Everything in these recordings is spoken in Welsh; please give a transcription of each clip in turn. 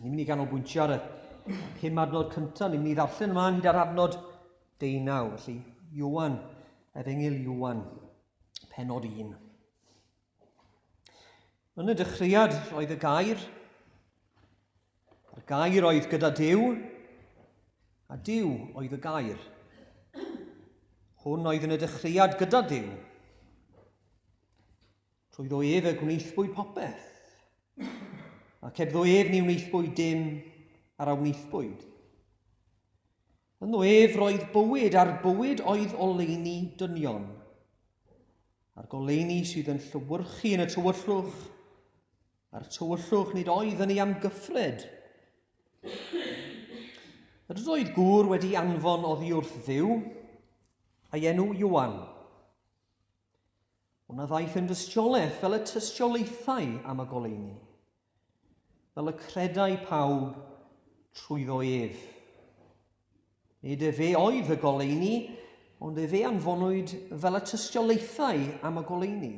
Ni'n mynd i ganolbwyntio ar y pum adnod cyntaf, ni'n mynd i ddarllen ymlaen hyd ar adnod deunaw. Felly, Iwan, efengyl Iwan, penod un. Yn y dechreuad roedd y gair, a'r gair oedd gyda Dyw, a Dyw oedd y gair. Hwn oedd yn y dechreuad gyda Dyw. Trwyddo ef y gwnaethpwy popeth, ac hebddo ef ni wnaethpwy dim ar a wnaethpwyd. Ynddo ef roedd bywyd, a'r bywyd oedd oleini dynion, a'r goleini sydd yn llywyrchu yn y tywyllwch, a'r tywyllwch nid oedd yn ei amgyffred. Yr oedd gŵr wedi anfon oddi wrth ddiw, a'i enw Iwan. Ond na ddaeth yn dystiolaeth fel y tystiolaethai am y goleuni, fel y credai pawb trwyddo ef. Nid efe oedd y goleuni, ond efe anfonwyd fel y tystiolaethai am y goleuni.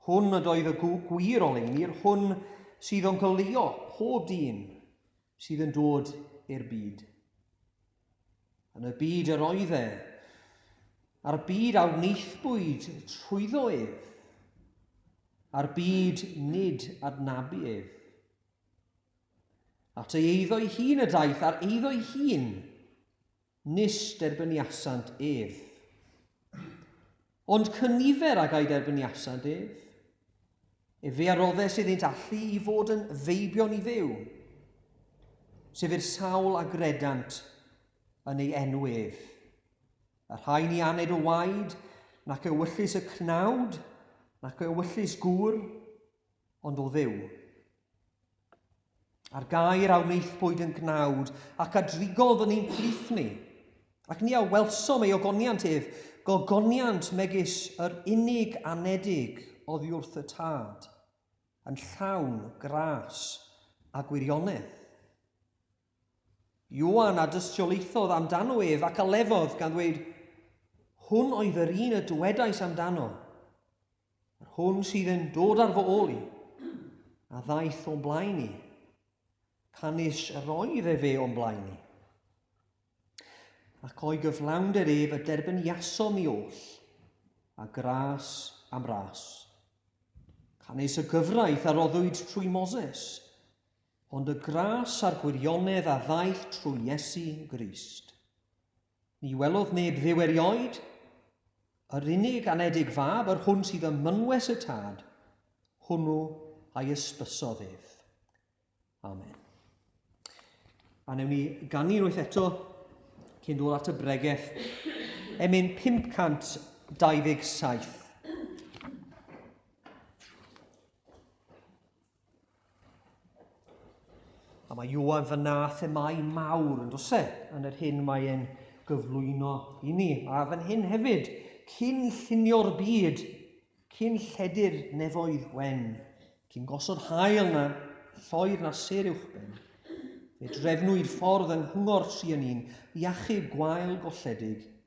Hwn ydoedd y gwir oleuni'r hwn sydd o'n goleuo pob dyn sydd yn dod i'r byd. Yn y byd yr oedd e, a'r byd a wneithbwyd trwyddo ef, a'r byd nid adnabu ef. At ei eiddo'i hun y daeth, a'r eiddo'i hun Nis derbyniasant ef. Ond cynifer ag a'i derbyniasant ef. Efe a roddes iddynt allu i fod yn feibion i Dduw, sef i'r sawl a gredant yn ei enw ef. Y rhai ni aned o waed, nac ewyllys y cnawd, nac ewyllys gŵr, ond o Dduw. A'r gair a wnaethpwyd yn gnawd, ac a drigodd yn ein plith ni. Ac ni a welsom ei ogoniant ef, gogoniant megis yr unig anedig oddiwrth y tad, yn llawn gras a gwirionedd. Ioan a dystiolaethodd amdano ef, ac a lefodd, gan ddweud, Hwn oedd yr un y dywedais amdano, yr hwn sydd yn dod ar fy ôl i, a ddaeth o'n blaen i, canys yr oedd e fe o'n blaen i. Ac o'i gyflawnder ef y derbyniasom ni oll, a gras am ras. Canys y gyfraith a roddwyd trwy Moses, Ond y gras a'r gwirionedd a ddaeth trwy Iesu Grist. Ni welodd neb dduw erioed, yr unig anedig fab, yr hwn sydd ym mynwes y tad, hwnnw a'i ysbysodd ef. Amen. A newn ni ganu unwaith eto cyn dod at y bregeth. Emyn 527. A mae Iwan fy na themau mawr yn dose yn yr hyn mae e'n gyflwyno i ni. A fan hyn hefyd, cyn llunio'r byd, cyn lledu'r nefoedd wen, cyn gosod hael na lloer na ser uwchben, fe drefnwyd ffordd yng Nghwngor Trianin i achub gwael golledig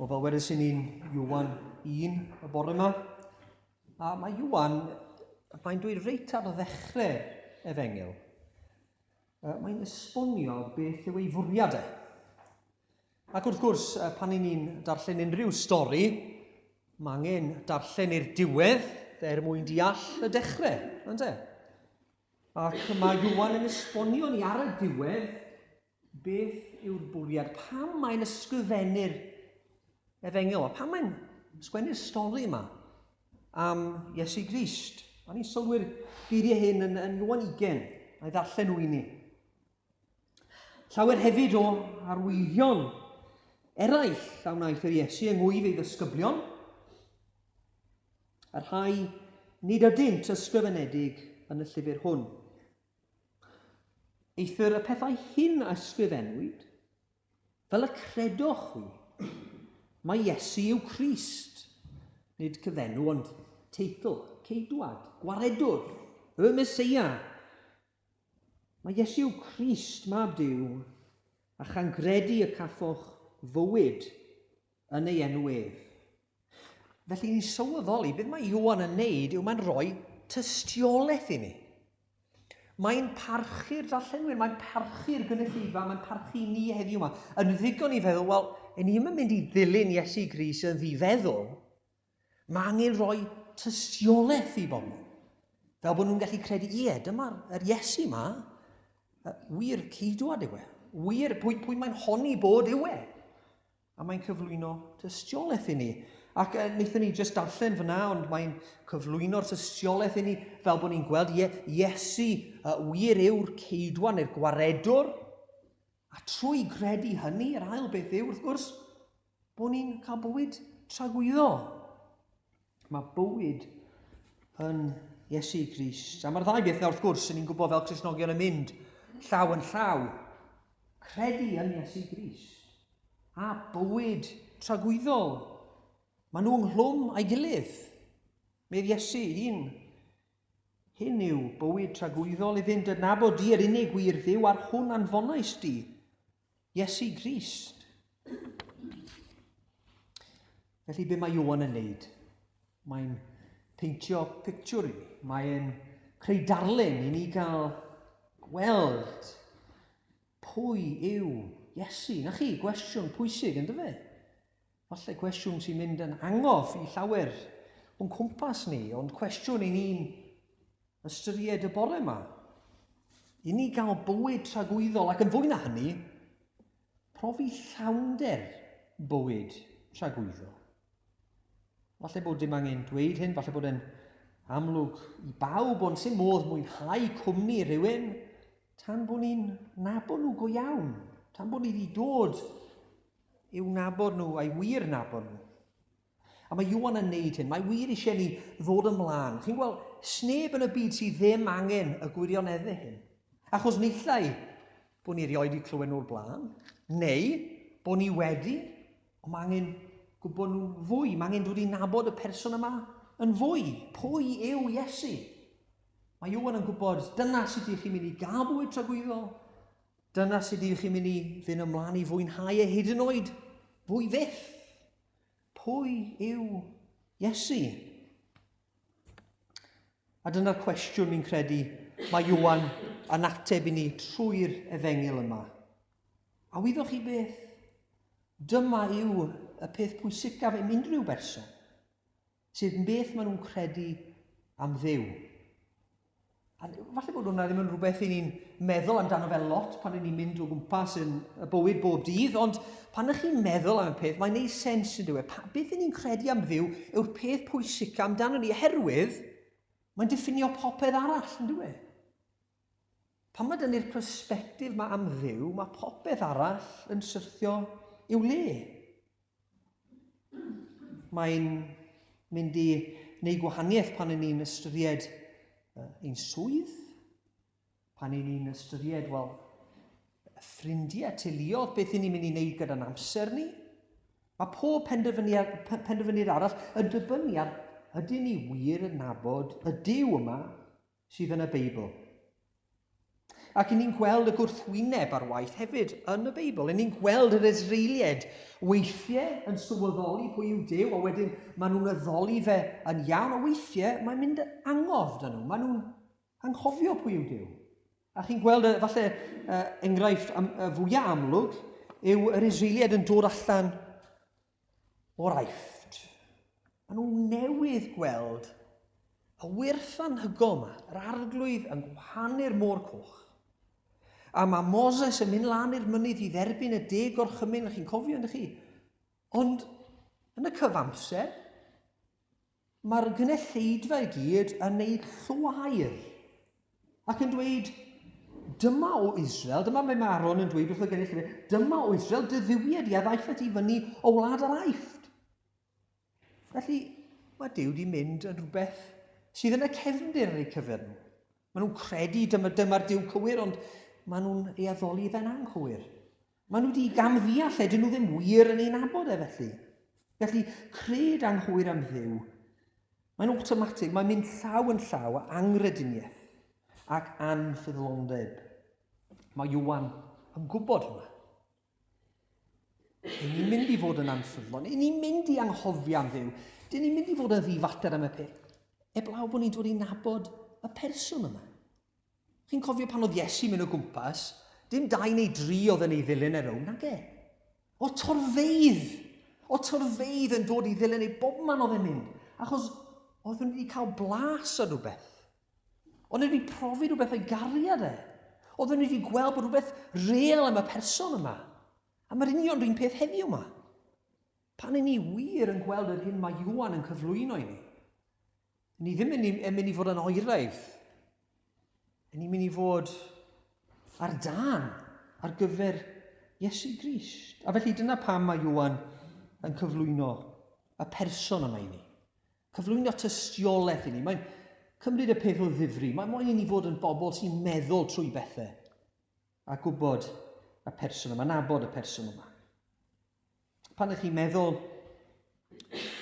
O fel wedes i ni'n Iwan 1 y bore yma. A mae Iwan, mae'n dweud reit ar ddechrau efengyl, mae'n esbonio beth yw ei fwriad e. Ac wrth gwrs, pan i ni'n darllen unrhyw stori, mae angen darllen i'r diwedd er mwyn deall y dechrau, ynddo? Ac mae Iwan yn esbonio ni ar y diwedd beth yw'r bwriad, pam mae'n ysgrifennu'r efengyl, a pam mae'n sgwennu'r stori yma am Iesu Grist. A ni'n sylwi'r geiriau hyn yn, yn Iwan 20, a'i ddarllen nhw i ni. Llawer hefyd o arwyddion eraill a wnaeth yr Iesu yng ngwyf ei ddysgyblion, y rhai nid ydynt ysgrifenedig yn y llyfr hwn. Eithr y pethau hyn a ysgrifennwyd, fel y credoch chwi, mae Iesu yw Christ, nid cyfenw ond teitl, ceidwad, gwaredwr, y Mesoea, Mae Iesu Crist, Mab Duw, a chan gredu y cafoch fywyd yn ei enw ef. Felly ni'n sylweddoli, beth mae Iwan yn neud yw mae'n rhoi tystiolaeth i ni. Mae'n parchu'r darllenwyr, mae'n parchu'r gynulleidfa, mae'n parchu ni heddiw yma. Yn ddigon i feddwl, wel, yn ni'n mynd i ddilyn Iesu Gris yn ddifeddwl, Mae angen rhoi tystiolaeth i bobl. Fel bod nhw'n gallu credu, ie, dyma'r er Iesu yma, wir ceidwad yw e. Wir pwy, pwy mae'n honni bod yw e. A mae'n cyflwyno tystiolaeth i ni. Ac uh, wnaethon ni jyst darllen fyna, ond mae'n cyflwyno'r tystiolaeth i ni fel bod ni'n gweld, ie, Iesu uh, wir yw'r ceidwad neu'r gwaredwr. A trwy gredu hynny, yr ail beth yw, wrth gwrs, bod ni'n cael bywyd tragwyddol. Mae bywyd yn Iesu Grist. A mae'r ddau beth wrth gwrs, yn ni'n gwybod fel Cresnogion yn mynd llaw yn llaw. Credu yn Iesu Grist a bywyd tragwyddol. Mae nhw ynghlwm a'i gilydd. Medd Iesu un Hyn yw bywyd tragwyddol i fynd yn nabod Di yr unig wir Dduw ar hwn anfonais Di, Iesu Grist. Felly be mae Iwan yn neud? Mae'n peintio pictiwr i ni. Mae'n creu darlun i ni gael gweld pwy yw Iesu. Na chi, gwestiwn pwysig yn dyfe? Falle cwestiwn sy'n mynd yn angof i llawer o'n cwmpas ni, ond cwestiwn i ni'n ystyried y bore yma. I ni gael bywyd tragwyddol ac yn fwy na hynny, profi llawnder bywyd tragwyddol. Falle bod dim angen dweud hyn, falle bod e'n amlwg i bawb, ond sy'n modd mwynhau cwmni rhywun tan bod ni'n nabod nhw go iawn, tan bod ni wedi dod i'w nabod nhw, a'i wir nabod nhw. A mae Iwan yn neud hyn. Mae wir eisiau ni ddod ymlaen. Chi'n gweld, sneb yn y byd sydd ddim angen y gwirionedde hyn. Achos nillai bod ni erioed wedi clywed nhw'r blaen, neu bod ni wedi, ond mae angen gwybod nhw'n fwy. Mae angen dod i nabod y person yma yn fwy. Pwy yw Iesu? Mae Iwan yn gwybod, dyna sut ydych chi'n mynd i gael bwyd tragwyddol. Dyna sut ydych chi'n mynd i fynd ymlaen i fwynhau e hyd yn oed fwy fyth. Pwy yw Iesu? A dyna'r cwestiwn fi'n credu mae Iwan yn ateb i ni trwy'r efengil yma. A wyddoch chi beth? Dyma yw y peth pwysicaf yn unrhyw berson. Sef yn beth maen nhw'n credu am Dduw. A falle bod hwnna ddim yn rhywbeth i ni'n meddwl amdano fel lot pan ni'n mynd o gwmpas yn y bywyd bob dydd, ond pan ydych chi'n meddwl am y peth, mae'n ei sens yn dweud, e. Beth ni'n credu am Dduw yw'r peth pwysicaf amdano ni, oherwydd mae'n diffinio popeth arall, yn dweud. Pan mae dynnu'r persbectif ma am Dduw, mae popeth arall yn syrthio i'w le. Mae'n mynd i wneud gwahaniaeth pan yn ni'n ystyried ein swydd, pan yn ni'n ystyried, wel, ffrindiau, teuluodd, beth yn ni'n mynd i wneud gyda'n amser ni. Mae pob penderfyniad arall yn dibynnu ar ydyn ni wir yn nabod y Dyw yma sydd yn y Beibl. Ac i ni'n gweld y gwrthwyneb ar waith hefyd yn y Beibl. I ni'n gweld yr Israelied weithiau yn sylweddoli pwy yw Dyw, a wedyn maen nhw'n addoli fe yn iawn, a weithiau mae'n mynd angof dyn nhw. Maen nhw'n anghofio pwy yw Dyw. A chi'n gweld, y, falle, uh, enghraifft am, uh, fwyaf amlwg yw yr Israelied yn dod allan o'r Aifft. Maen nhw newydd gweld y wyrth anhygol yma, yr arglwydd yn gwahanu'r môr coch. A mae Moses yn mynd lan i'r mynydd i dderbyn y deg o'r chymyn, chi'n cofio, ydych chi? Ond yn y cyfamser, Mae'r gynulleidfa i gyd yn neud llwaer ac yn dweud, dyma o Israel, dyma mae Maron yn dweud wrth y gynulleidfa, dyma o Israel, dy dduwied i a ddaeth at i fyny o wlad yr aifft. Felly, mae Dyw di mynd yn rhywbeth sydd yn y cefndir yn eu cyfer nhw. Maen nhw'n credu dyma, dyma'r Dyw cywir, ond maen nhw'n ei addoli fe'n anghywir. Maen nhw wedi gamddeall lle dyn nhw ddim wir yn ei nabod e felly. Felly, cred anghywir am ddiw, mae'n awtomatig, mae'n mynd llaw yn llaw â angrediniaeth ac anffyddlondeb. Mae Iwan yn gwybod hwnna. Dyn ni'n mynd i fod yn anffyddlon, dyn ni'n mynd i anghofio am ddiw, dyn ni'n mynd i fod yn ddifater am y peth, eblaw bod ni'n dod i nabod y person yma. Chi'n cofio pan oedd Iesu'n mynd o gwmpas, dim dau neu dri oedd yn ei ddilyn e rownd, nage? O torfeidd! O torfeidd yn dod i ddilyn ei bob man oedd e'n mynd, achos oedd nhw wedi cael blas ar rhywbeth. Oedd nhw wedi profi rhywbeth o'i gariad e. Oedd nhw wedi gweld bod rhywbeth real am y person yma. A mae'r union rhywun peth heddiw yma. Pan i ni wir yn gweld yr hyn mae Iwan yn cyflwyno i ni, Ni ddim yn mynd, yn mynd i fod yn oeraidd. Yn ni'n mynd i fod ar dan ar gyfer Iesu Grist. A felly dyna pam mae Iwan yn cyflwyno y person yma i ni. Cyflwyno tystiolaeth i ni. Mae'n cymryd y peth o ddifri. Mae moyn i ni fod yn bobl sy'n meddwl trwy bethau a gwybod y person yma, nabod y person yma. Pan ych chi'n meddwl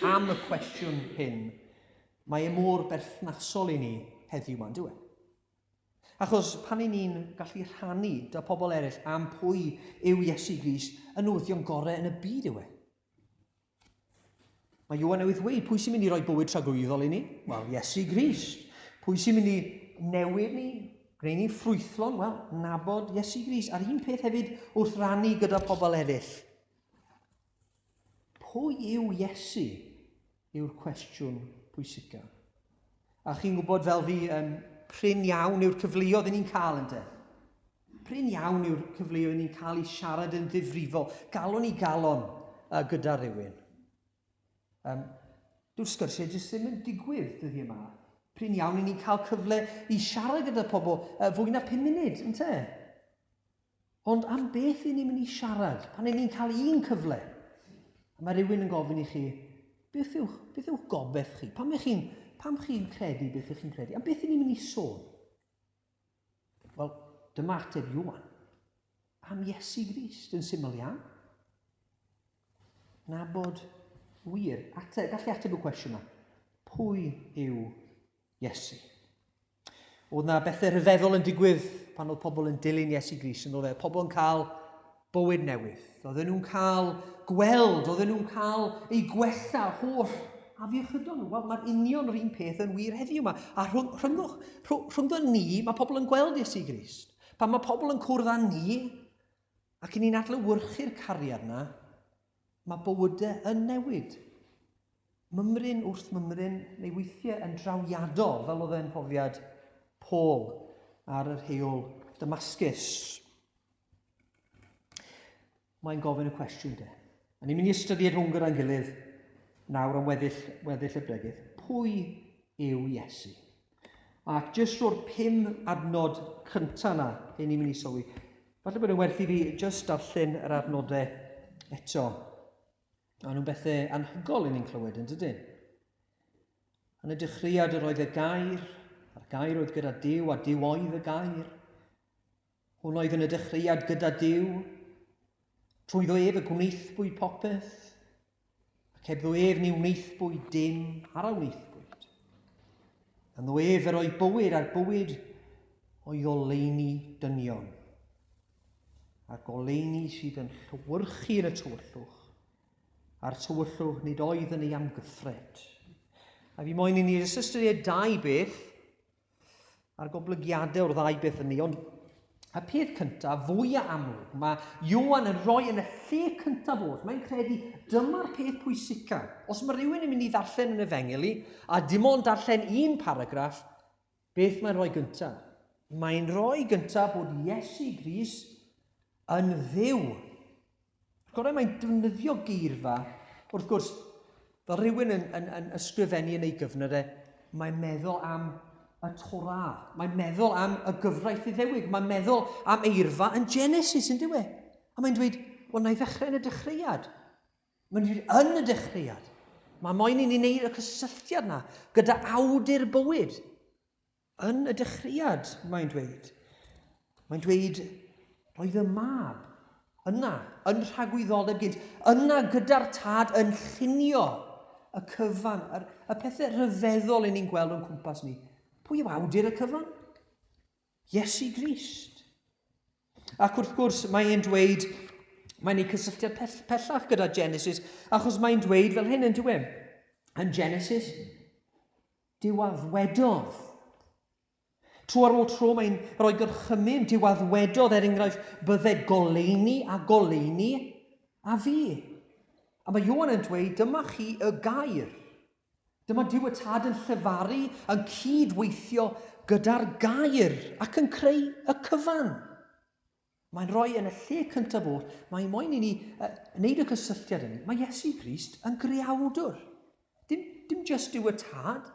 am y cwestiwn hyn, mae e mor berthnasol i ni heddiw ma'n dweud. Achos pan i ni'n gallu rhannu da pobl eraill am pwy yw Iesu Gris, y newyddion gorau yn y byd yw e. Mae Ioan newydd ddweud, pwy sy'n mynd i roi bywyd tragwyddol i ni? Wel, Iesu Grist. Pwy sy'n mynd i newid ni? Gwneud ni'n ffrwythlon? Wel, nabod Iesu Grist. A'r un peth hefyd wrth rannu gyda pobl eraill. Pwy yw Iesu? yw'r cwestiwn pwysicaf. A chi'n gwybod fel fi, yn prin iawn yw'r cyfleoedd yn ni'n cael yn de. Prin iawn yw'r cyfleoedd yn ni'n cael i siarad yn ddifrifol, galon i galon uh, gyda rhywun. Um, Dyw'r sgyrsiau jyst ddim yn digwydd dyddi yma. Prin iawn i ni'n cael cyfle i siarad gyda pobl uh, fwy na 5 munud, yn te? Ond am beth i ni'n mynd i siarad pan i ni'n cael un cyfle? A mae rhywun yn gofyn i chi, beth yw, beth yw gobeith chi? Pam ych chi'n pam chi'n credu beth ych chi'n credu? Am beth i ni'n mynd i sôn? Wel, dyma ateb Iwan. Am Iesu Grist, yn syml iawn. Nabod wir. Ateb, gallu ateb y cwestiwn yma. Pwy yw Iesu. Oedd na bethau rhyfeddol yn digwydd pan oedd pobl yn dilyn Iesu Gris yn oddau. Pobl yn cael bywyd newydd. Oedden nhw'n cael gweld, oedden nhw'n cael ei gwella holl afiechydon nhw. Wel, mae'r union yr un peth yn wir heddiw yma. A rhwng, rhwng, rhwng, rhwng ni, mae pobl yn gweld Iesu Gris. Pan mae pobl yn cwrdd â ni, ac i ni'n adlywyrchu'r cariad yna, Mae bywydau yn newid. Mymryn wrth mymryn, neu weithiau yn drawiadol, fel oedd e'n mhrofiad Paul ar yr heol Damascus. Mae'n gofyn y cwestiwn de. A ni'n mynd i ystyried hwn gyda'n gilydd nawr am weddill, weddill y bregydd. Pwy yw Iesu? Ac jyst ro'r pum adnod cyntaf yna, hyn ni'n mynd i sylwi. Falle bod yn werth i fi jyst darllen yr adnodau eto. Mae nhw'n bethau anhygol i ni'n clywed yn dydyn. Yn y dechreuad yr oedd y gair, a'r gair oedd gyda Dyw a Dyw oedd y gair. Hwn oedd yn y dechreuad gyda Duw. Trwyddo ef y gwnaethbwyd popeth, ac hebddo ef ni wnaethbwyd dim ar a wnaethbwyd. Ynddo ef yr o'i bywyd a'r bywyd o'i goleini dynion, a'r goleini sydd yn llywyrchu yn y tywyllwch, a'r tywyllwch nid oedd yn ei amgyffred. A fi moyn i ni ystyried dau beth Mae'r goblygiadau o'r ddau beth yn ni, ond y peth cyntaf, fwy a amlwg, mae Johan yn rhoi yn y lle cyntaf oll. Mae'n credu dyma'r peth pwysica. Os mae rhywun yn mynd i ddarllen yn efengeli, a dim ond darllen un paragraff, beth mae'n rhoi gyntaf? Mae'n rhoi gyntaf bod Iesu Gris yn ddew. Gorau mae'n defnyddio geirfa, wrth gwrs, fel rhywun yn, yn, yn ysgrifennu yn ei gyfnod e, mae'n meddwl am y Torah. Mae'n meddwl am y gyfraith iddewig. Mae'n meddwl am eirfa yn Genesis, yn diwy. A mae'n dweud, wel, na i ddechrau yn y dechreuad. Mae'n dweud, yn y dechreuad. Mae moyn i ni wneud y cysylltiad na gyda awdur bywyd. Yn y dechreuad, mae'n dweud, mae'n dweud, roedd y mab yna, yn rhagwyddoldeb gynt, yna gyda'r tad yn llunio y cyfan, y, y pethau rhyfeddol yn ni'n gweld o'n cwmpas ni. Pwy yw awdur y cyfan? Iesu Grist. Ac wrth gwrs, mae e'n dweud, mae'n ei cysylltiad pellach gyda Genesis, achos mae'n dweud fel hyn yn dweud, yn Genesis, Diwaddwedodd. Tro ar ôl tro mae'n rhoi gorchymyn, diwaddwedodd er enghraifft, bydde goleuni a goleuni a fi. A mae Ioan yn dweud, dyma chi y gair. Dyma Dyw y Tad yn llefaru, yn cyd-weithio gyda'r gair ac yn creu y cyfan. Mae'n rhoi yn y lle cyntaf oll, mae moyn i ni uh, wneud y cysylltiad hynny. Mae Iesu Grist yn greawdwr. Dim, dim jyst yw y tad.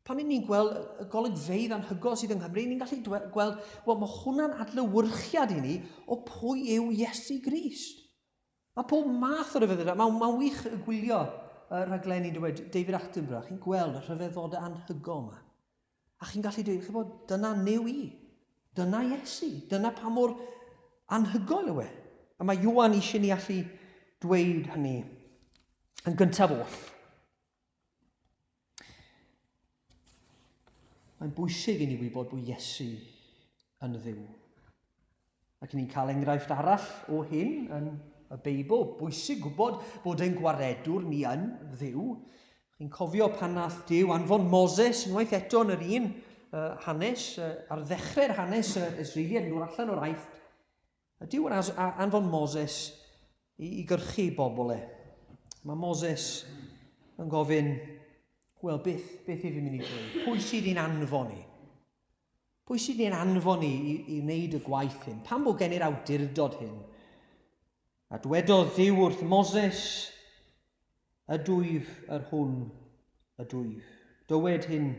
Pan ni'n ni'n gweld y golygfeydd anhygol sydd yng Nghymru, ni'n gallu gweld, wel, mae hwnna'n adlywyrchiad i ni o pwy yw Iesu Grist. Mae pob math o ryfeddodau. Mae'n ma wych y gwylio uh, rhaglenni dweud David Attenborough. Chi'n gweld y rhyfeddodau anhygol yma. A chi'n gallu dweud, chybod, dyna new i. Dyna Iesu. Dyna pa mor anhygoel yw e. A mae Iwan eisiau ni allu dweud hynny yn gyntaf oll. Mae'n bwysig i ni wybod bod Iesu yn ddiw. Ac ni'n cael enghraifft arall o hyn yn y Beibl. Bwysig gwybod bod ein gwaredwr ni yn ddiw. Chi'n cofio pan nath Dyw anfon Moses unwaith eto yn yr un uh, hanes, uh, ar ddechrau'r hanes uh, Israeliad yn dod allan o'r aeth. A Dyw yn anfon Moses i, i gyrchu bobl e. Mae Moses yn gofyn, wel, beth, beth i fi mynd i ddweud? Pwy sydd i'n anfon i? Pwy sydd ein anfon ni i, i wneud y gwaith hyn? Pam bod gen i'r awdurdod hyn? A dwedodd Dduw wrth Moses, Ydwyf yr hwn ydwyf. Dywed hyn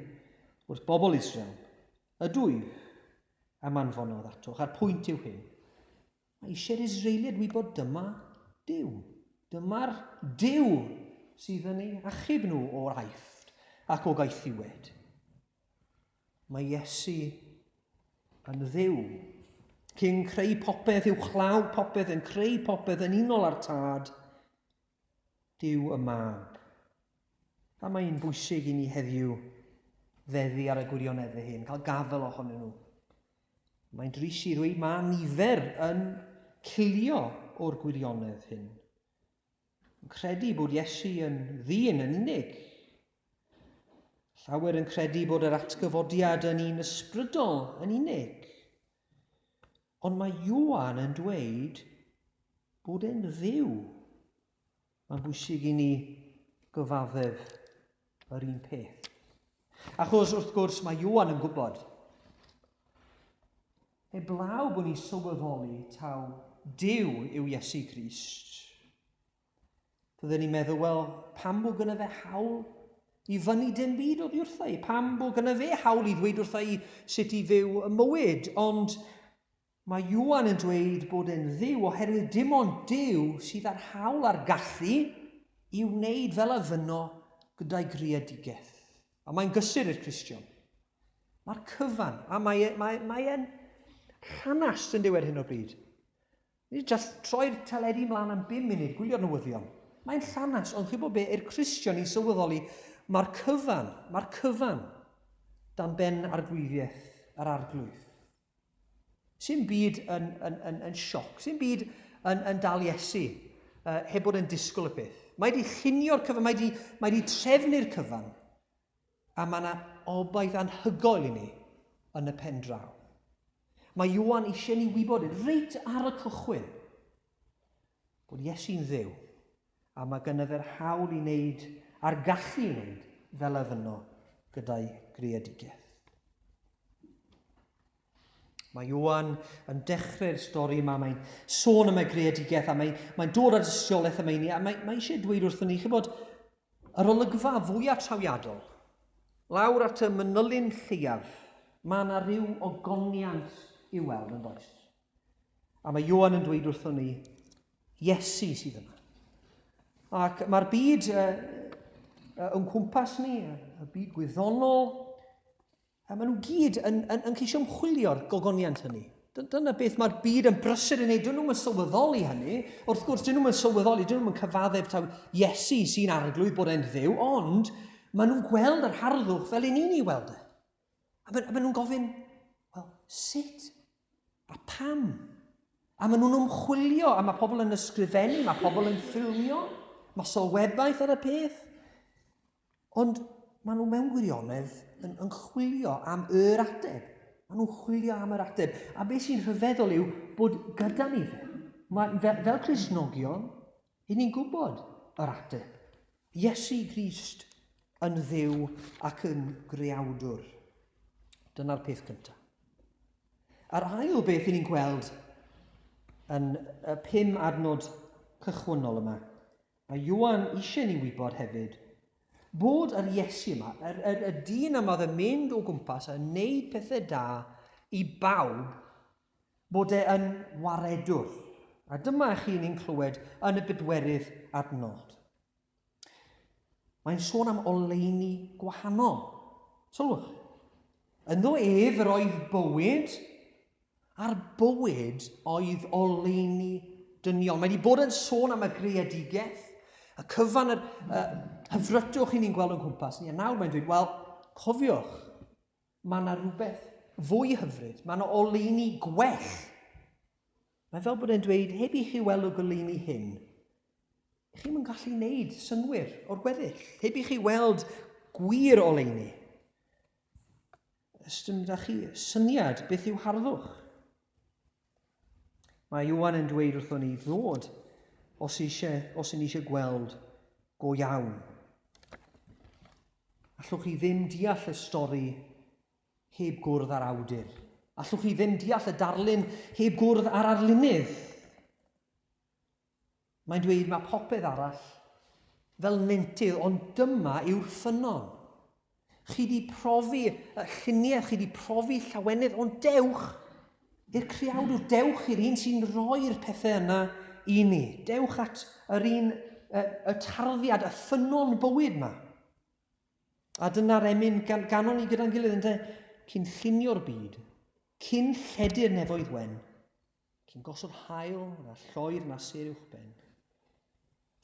wrth bobl Israel, Ydwyf a manfonodd atoch, a'r pwynt yw hyn. Mae eisiau'r Israeliad wybod dyma Duw. Dyma'r Duw sydd yn eu achub nhw o'r aifft ac o gaethiwed. Mae Iesu yn dduw. Cyn creu popeth, yw chlaw popeth, yn creu popeth yn unol â'r tad, Dyw y mab. A mae'n bwysig i ni heddiw feddu ar y gwirionedd hyn, cael gafel ohonyn nhw. Mae'n drist i ddweud mae nifer yn cilio o'r gwirionedd hyn, yn credu bod Iesu yn ddyn yn unig. Llawer yn credu bod yr atgyfodiad yn un ysbrydol yn unig. Ond mae Ioan yn dweud bod e'n ddiw. Mae'n bwysig i ni gyfaddef yr un peth. Achos, wrth gwrs, mae Iwan yn gwybod. Heblaw bod ni'n sylweddoli taw Dyw yw Iesu Grist. Fydden ni'n meddwl, wel, pam bod gyda fe hawl i fyny dim byd oddi wrtha i? Pam bod gyda fe hawl i ddweud wrtha i sut i fyw y mywyd? Ond Mae Ioan yn dweud bod e'n Dduw oherwydd dim ond Duw sydd â'r hawl a'r gallu i wneud fel a fynno gyda'i greadigaeth. A mae'n gysur i'r Cristion. Mae'r cyfan, a mae, e, mae, mae e'n rhanast yn dywed hyn o bryd. Ni just troi'r teledu mlaen am bum munud, gwylio'r newyddion. Mae'n rhanast, ond chi'n bod be, i'r Cristion i sylweddoli, mae'r cyfan, mae'r cyfan dan ben arglwyddiaeth yr arglwydd. Sy'n byd yn, yn, yn, yn sioc, sy'n byd yn, yn dal Iesu, uh, heb bod yn disgwyl y peth. Mae wedi chynio'r cyfan, mae wedi, mae wedi trefnu'r cyfan, a mae yna obaith anhygoel i ni yn y pen draw. Mae Iwan eisiau ni wybod yn reit ar y cychwyn bod Iesu'n ddew A mae gennyf yr hawl i wneud, a'r gallu i wneud, fel ef yno, gyda'i greadigaeth. Mae Ioan yn dechrau'r stori yma, mae'n sôn am ei greadigaeth a mae'n mae dod ar dystiolaeth am eini a mae, mae eisiau dweud wrthyn ni, chybod, yr olygfa fwyaf trawiadol, lawr at y mynylyn lleiaf, mae yna rhyw ogoniant i'w weld yn does. A mae Ioan yn dweud wrthon ni, Iesu sydd yma. Ac mae'r byd uh, uh, yn cwmpas ni, y byd gwyddonol, a maen nhw gyd yn, yn, yn ceisio ymchwilio'r gogoniant hynny. Dyna beth mae'r byd yn brysur yn ei, dyn nhw'n sylweddoli hynny. Wrth gwrs, dyn nhw'n sylweddoli, dyn nhw'n cyfaddef taw Iesu sy'n arglwydd bod e'n ddew, ond maen nhw'n gweld yr harddwch fel yn ni'n ei weld e. A maen, maen nhw'n gofyn, wel, sut? A pam? A maen nhw'n ymchwilio, a mae pobl yn ysgrifennu, mae pobl yn ffilmio, mae sylwebaeth ar y peth. Ond maen nhw mewn gwirionedd yn, yn chwilio am yr ateb. Maen nhw'n chwilio am yr ateb. A beth sy'n rhyfeddol yw bod gyda ni fe. Mae, fel, fel Crisnogion, Y'n ni'n gwybod yr ateb. Iesu Grist yn Dduw ac yn Greawdwr. Dyna'r peth cyntaf. A'r ail beth y'n ni'n gweld yn y pum adnod cychwynnol yma, mae Iwan eisiau ni wybod hefyd bod yr Iesu yma, yr, yr, y dyn yma oedd yn mynd o gwmpas a wneud pethau da i bawb bod e yn waredwr, a dyma i chi ni'n clywed yn y bedwerydd adnod. Mae'n sôn am oleuni gwahanol. Sylwch. Ynddo ef yr oedd bywyd, a'r bywyd oedd oleuni dynion. Mae wedi bod yn sôn am y greadigaeth, y cyfan, yr uh, hyfrytwch i ni'n gweld o'n cwmpas ni. A nawr mae'n dweud, wel, cofiwch, Mae yna rhywbeth fwy hyfryd. Mae yna oleuni gwell. Mae fel bod e'n dweud, heb i chi weld y goleuni hyn, chi'n yn gallu wneud synnwyr o'r gweddill. Heb i chi weld gwir oleuni, ystym da chi syniad beth yw harddwch. Mae Iwan yn dweud wrthon ni ddod os eisiau, os yn eisiau gweld go iawn. Allwch chi ddim deall y stori heb gwrdd â'r awdur. Allwch chi ddim deall y darlun heb gwrdd â'r arlunydd. Mae'n dweud mae popeth arall fel nentydd ond dyma yw'r ffynnon. Chi di profi lluniaeth, chi di profi llawenydd ond dewch i'r creawdwr, dewch i'r un sy'n rhoi'r pethau yna i ni. Dewch at yr un, y tarddiad, y ffynnon bywyd yma. A dyna'r emyn gan, ganon ni gyda'n gilydd, ynddo, cyn llunio'r byd, cyn lledu'r nefoedd wen, Cyn gosod haul na lloer na sêr uwchben,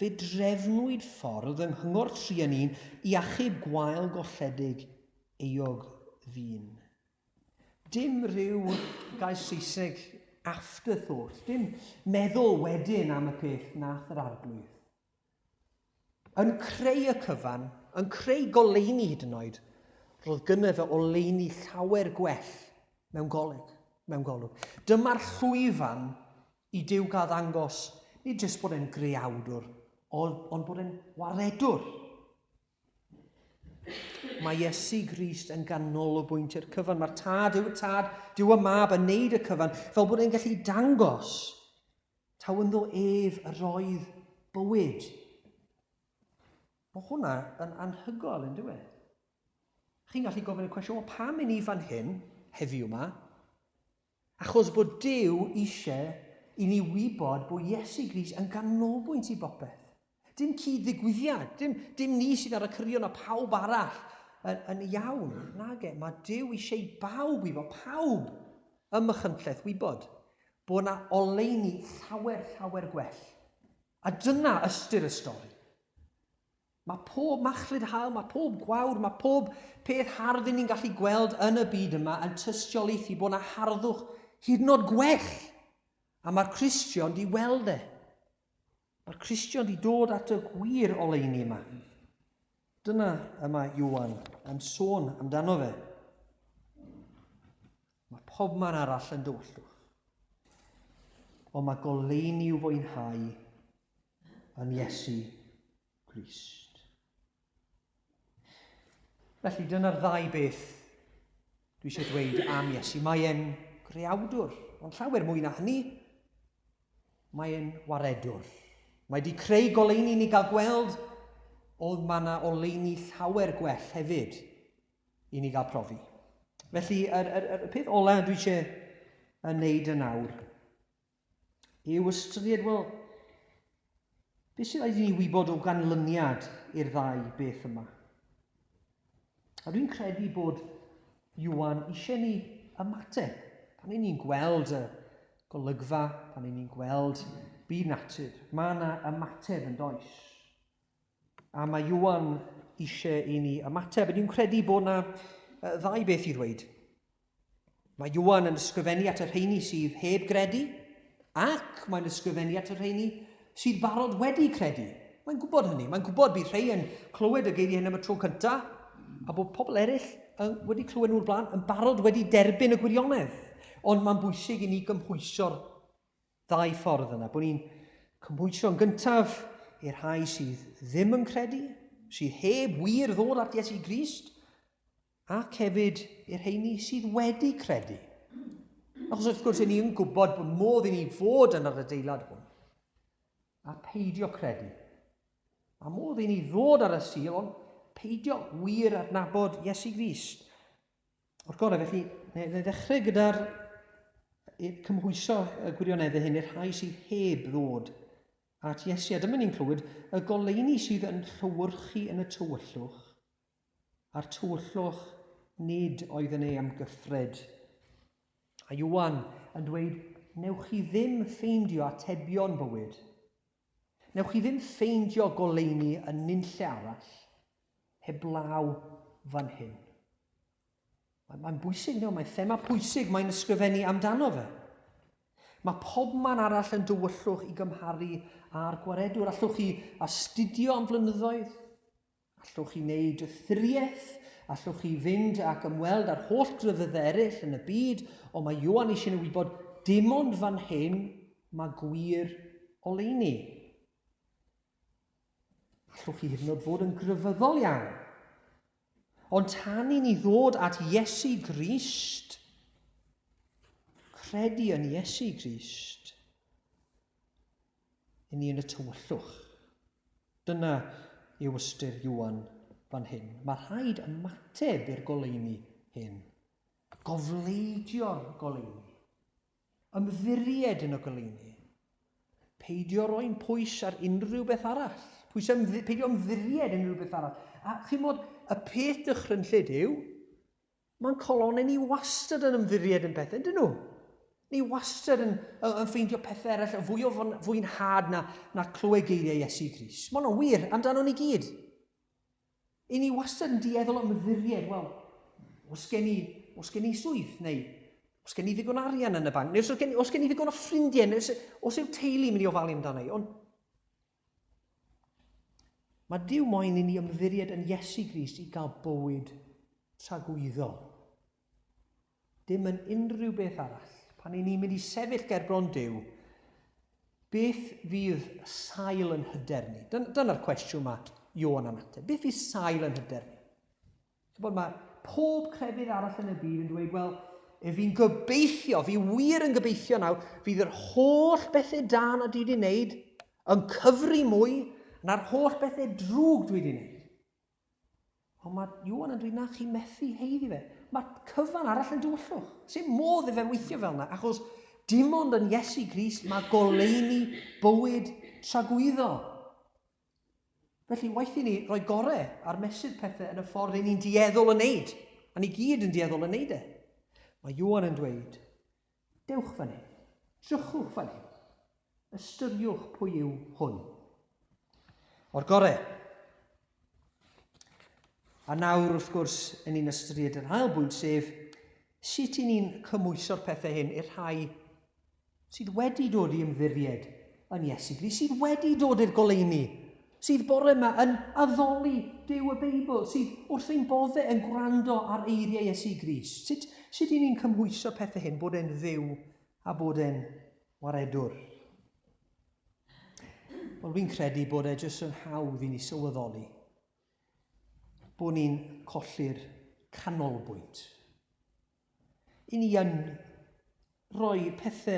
fe drefnwyd ffordd yng Nghyngor Trianin i achub gwael golledig euog ddyn. Dim rhyw gair Saesneg afterthought, dim meddwl wedyn am y peth nath yr Arglwydd. Yn creu y cyfan, yn creu goleuni hyd yn oed, roedd gynno fe oleuni llawer gwell mewn golyg, mewn golwg. Dyma'r llwyfan i Duw gael ddangos nid jyst bod e'n greawdwr, ond bod e'n waredwr. Mae Iesu Grist yn ganolbwynt i'r cyfan. Mae'r tad yw'r tad, dyw y mab yn neud y cyfan, fel bod e'n gallu dangos taw ynddo ef yr oedd bywyd. Mae hwnna yn anhygoel yn dweud. Chi'n gallu gofyn y cwestiwn, o pam i ni fan hyn, heddiw yma? Achos bod Duw eisiau i ni wybod bod Iesu Grist yn ganolbwynt i bopeth. Dim cyd-ddigwyddiad, dim, dim ni sydd ar y cyrion a phawb arall yn, yn iawn. Nage, mae Duw eisiau bawb i fo, pawb ym Machynlleth wybod bod yna oleuni llawer, llawer gwell. A dyna ystyr y stori. Mae pob machlud haul, mae pob gwawr, mae pob peth hardd ni'n gallu gweld yn y byd yma yn tystiolaethu bod yna harddwch hyd yn oed gwell. A mae'r Cristion di weld e. Mae'r Cristion di dod at y gwir oleuni yma. Dyna y mae Iwan yn sôn amdano fe. Mae pobman arall yn dywyllwch. Ond mae goleuni i'w fwynhau yn Iesu Grist. Felly dyna'r ddau beth dwi eisiau dweud am Iesu. Mae e'n greawdwr, ond llawer mwy na hynny. Mae e'n waredwr. Mae wedi creu goleuni ni gael gweld oedd mae yna oleuni llawer gwell hefyd i ni gael profi. Felly, yr, yr, yr peth olaf dwi eisiau yn wneud yn awr yw ystyried, wel, beth sy'n rhaid i ni wybod o ganlyniad i'r ddau beth yma? A dwi'n credu bod Iwan eisiau ni ymateb pan ni'n ni'n gweld y golygfa, pan ni'n ni'n gweld byd natur. Mae yna ymateb yn does. A mae Iwan eisiau i ni ymateb. Ydy'n credu bod yna ddau beth i ddweud. Mae Iwan yn ysgrifennu at y rheini sydd heb gredu, ac mae'n ysgrifennu at y rheini sydd barod wedi credu. Mae'n gwybod hynny. Mae'n gwybod bydd rhai yn clywed y geiriau hyn am y tro cyntaf, a bod pobl eraill yn wedi clywed nhw'r blaen yn barod wedi derbyn y gwirionedd. Ond mae'n bwysig i ni gymhwyso'r Ddau ffordd yna, bod ni'n cymhwyso'n gyntaf i'r rhai sydd ddim yn credu, sydd heb wir ddod at Iesu Grist, ac hefyd i'r rheini sydd wedi credu. Achos wrth gwrs, ni yn gwybod bod modd i ni fod yn yr adeilad hwn a peidio credu. A modd i ni ddod ar y sil, ond peidio wir adnabod Iesu Grist. O'r gorau, felly, neu ddechrau gyda'r cymhwyso y gwirioneddau hyn i'r rhai sydd heb ddod at Iesu. A dyma ni'n clywed y goleuni sydd yn llywyrchu yn y tywyllwch, a'r tywyllwch nid oedd yn ei amgyffred. A Iwan yn dweud, newch chi ddim ffeindio atebion bywyd Newch chi ddim ffeindio goleuni yn nunlle arall heblaw fan hyn. Mae, mae'n bwysig, no, mae'n thema pwysig mae'n ysgrifennu amdano fe. Mae pob man arall yn dywyllwch i gymharu â'r gwaredwr. Allwch chi astudio am flynyddoedd, Allwch chi wneud ystyriaeth? Allwch chi fynd ac ymweld â'r holl grefydd eraill yn y byd, ond mae Ioan eisiau nhw wybod dim ond fan hyn mae gwir oleuni. Allwch chi hyd yn oed fod yn grefyddol iawn. Ond tan i ni ddod at Iesu Grist, credu yn Iesu Grist, i ni yn y tywyllwch. Dyna yw ystyr Iwan fan hyn. Mae rhaid ymateb i'r goleuni hyn, gofleidio'r goleuni, ymddiried yn y goleuni, peidio roi'n pwys ar unrhyw beth arall, pwys ymddi, peidio ymddiried yn unrhyw beth arall. A chi'n modd, y peth dychrynllyd yw, Mae'n colonnau ni wastad yn ymddiried yn pethau, dyn nhw? Ni wastad yn, yn ffeindio pethau eraill yn fwy o fwynhad na, na clywed geiriau Iesu Gris. Mae'n wir amdano ni gyd. I ni wastad yn dieddol ymddiried, wel, os gen i, os gen i swydd, neu os gen i ddigon arian yn y banc, neu os gen, os gen i ddigon o ffrindiau, neu os, os yw teulu mynd i ofalu amdano i. Ond Mae Duw moyn i ni ymddiried yn Iesu Grist i gael bywyd tragwyddol. Dim yn unrhyw beth arall. Pan i ni'n mynd i sefyll ger bron Duw, beth fydd sail yn hyder ni? Dyna'r cwestiwn mae Ioan yn ateb. Beth fydd sail yn hyder ni? Chibod, mae pob crefydd arall yn y byd yn dweud, wel, e fi'n gobeithio, fi wir yn gobeithio nawr, fydd yr holl bethau da na dwi wedi wneud yn cyfri mwy na'r holl bethau drwg dwi wedi wneud. Ond mae Iwan yn dweud na chi methu heiddi fe. Mae cyfan arall yn dywyllwch. Sut modd i fe weithio fel yna? Achos dim ond yn Iesu Gris mae goleuni bywyd tragwyddo. Felly, waeth i ni roi gorau ar mesur pethau yn y ffordd ry'n ni'n dueddol o wneud, a ni gyd yn dueddol o wneud e. Mae Ioan yn dweud, dewch fan hyn, drychwch fan hyn, ystyriwch pwy yw hwn. O'r gorau. A nawr, wrth gwrs, yn ni'n ystyried yr ail bwynt, sef sut i ni'n cymwyso'r pethau hyn i'r rhai sydd wedi dod i ymddiried yn Iesu Grist, sydd wedi dod i'r goleuni, sydd bore yma yn addoli Duw y Beibl, sydd wrth ein bodde yn gwrando ar eiriau Iesu Grist. Sut, sut i ni'n cymhwyso pethau hyn, bod e'n ddiw a bod e'n waredwr? Wel, fi'n credu bod e jyst yn hawdd i ni sylweddoli bod ni'n colli'r canolbwynt. I ni yn rhoi pethe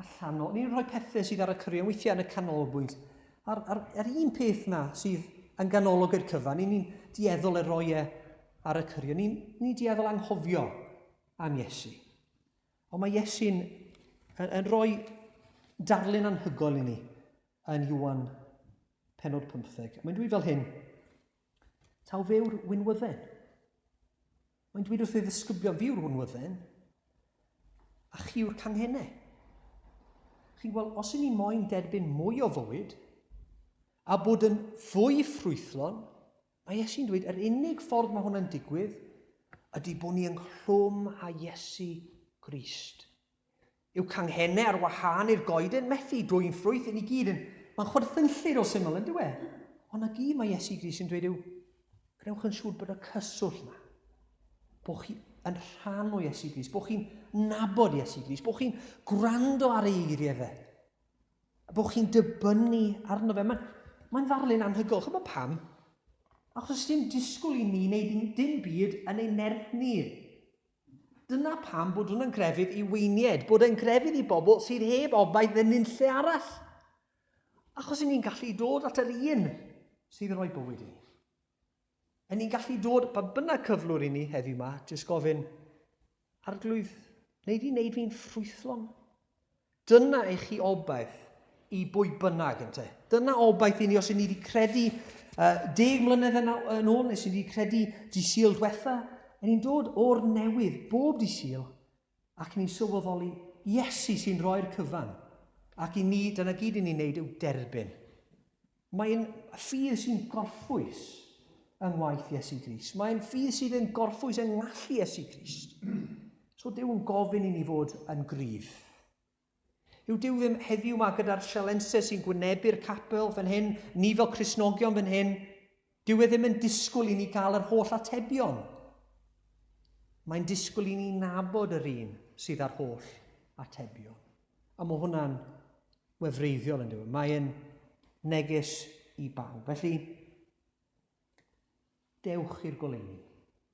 allan o, ni'n rhoi pethe sydd ar y cyrion weithiau yn y canolbwynt. A'r, ar, ar un peth na sydd yn ganolog i'r cyfan, ni'n ni dieddol e roi e ar y cyrion. Ni'n ni dieddol anghofio am Iesu. Ond mae Iesu'n yn, yn rhoi darlun anhygoel i ni yn Iwan penod 15. Mae'n dweud fel hyn, Taw fe yw'r winwydden. Mae'n dweud wrth ei ddisgyblion, fi yw'r hwnwydden, a chi yw'r canghennau. Chi'n gweld, os i ni moyn derbyn mwy o fywyd, a bod yn fwy ffrwythlon, mae Iesu'n dweud, yr unig ffordd mae hwnna'n digwydd, ydy bod ni ynghlwm a Iesu Grist. Yw canghennau ar wahân i'r goeden methu dwyn ffrwyth i ni gyd yn... Mae'n chwerthinllyd o syml, yn dyw e? Ond 'na gyd mae Iesu Grist yn dweud yw, gwnewch yn siŵr bod y cyswllt 'na, bod chi yn rhan o Iesu Grist, bod chi'n nabod Iesu Grist, bod chi'n gwrando ar ei eiriau fe, a bod chi'n dibynnu arno fe. Mae'n mae ddarlun anhygol. Chymod pam? Achos os dim disgwyl i ni wneud dim byd yn ei nerth ni. Dyna pam bod hwnna'n grefydd i weiniaid, bod e'n grefydd i bobl sydd heb obaith yn nunlle arall. Achos ni'n gallu dod at yr un sydd yn rhoi bywyd i ni. Yn ni'n gallu dod pa bynnag cyflwr i ni heddiw yma, jyst gofyn, arglwydd, wneud i wneud fi'n ffrwythlon. Dyna i chi obaith i bwy bynnag, ynte. Dyna obaith i ni os i ni wedi credu uh, deg mlynedd yn, yn ôl, nes i ni wedi credu di syl diwetha, yn ni'n dod o'r newydd bob di syl ac ni'n sylweddoli Iesu sy'n rhoi'r cyfan. Ac i ni, dyna gyd i ni'n neud yw derbyn. Mae'n ffydd sy'n gorffwys yng ngwaith Iesu Grist. Mae'n ffydd sydd yn gorffwys yng ngallu Iesu Grist. So Dyw yn gofyn i ni fod yn gryf. Yw Dyw ddim heddiw yma gyda'r sialensau sy'n gwynebu'r capel fan hyn, ni fel Crisnogion fan hyn, Dyw e ddim yn disgwyl i ni gael yr holl atebion. Mae'n disgwyl i ni nabod yr un sydd â'r holl atebion. A mae hwnna'n wefreiddiol yn dweud. Mae'n neges i bawb. Felly, dewch i'r goleuni.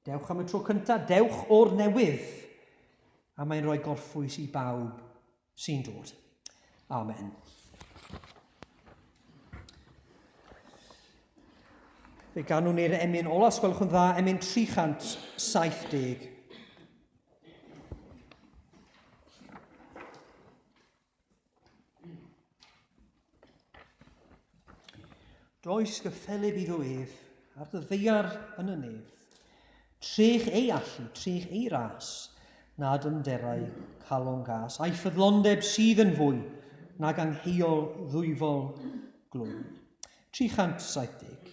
Dewch am y tro cyntaf, dewch o'r newydd. A mae'n rhoi gorffwys i bawb sy'n dod. Amen. Fe ganwn ni'r emyn ola, os gwelwch yn dda, emyn 370. Does gyffelyb iddo ef, ar dy ddeiar yn y nef, trech ei allu, trech ei ras, nad ymderau calon gas, a'i ffyddlondeb sydd yn fwy nag angheuol ddwyfol glwy. 370.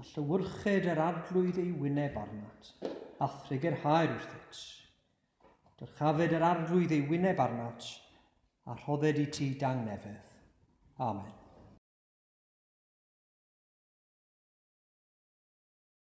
A llewyrched yr Arglwydd ei wyneb arnat, a thregerhaer wrthyt. Dyrchafed yr Arglwydd ei wyneb arnat, a rhodded i ti dangnefedd. Amen.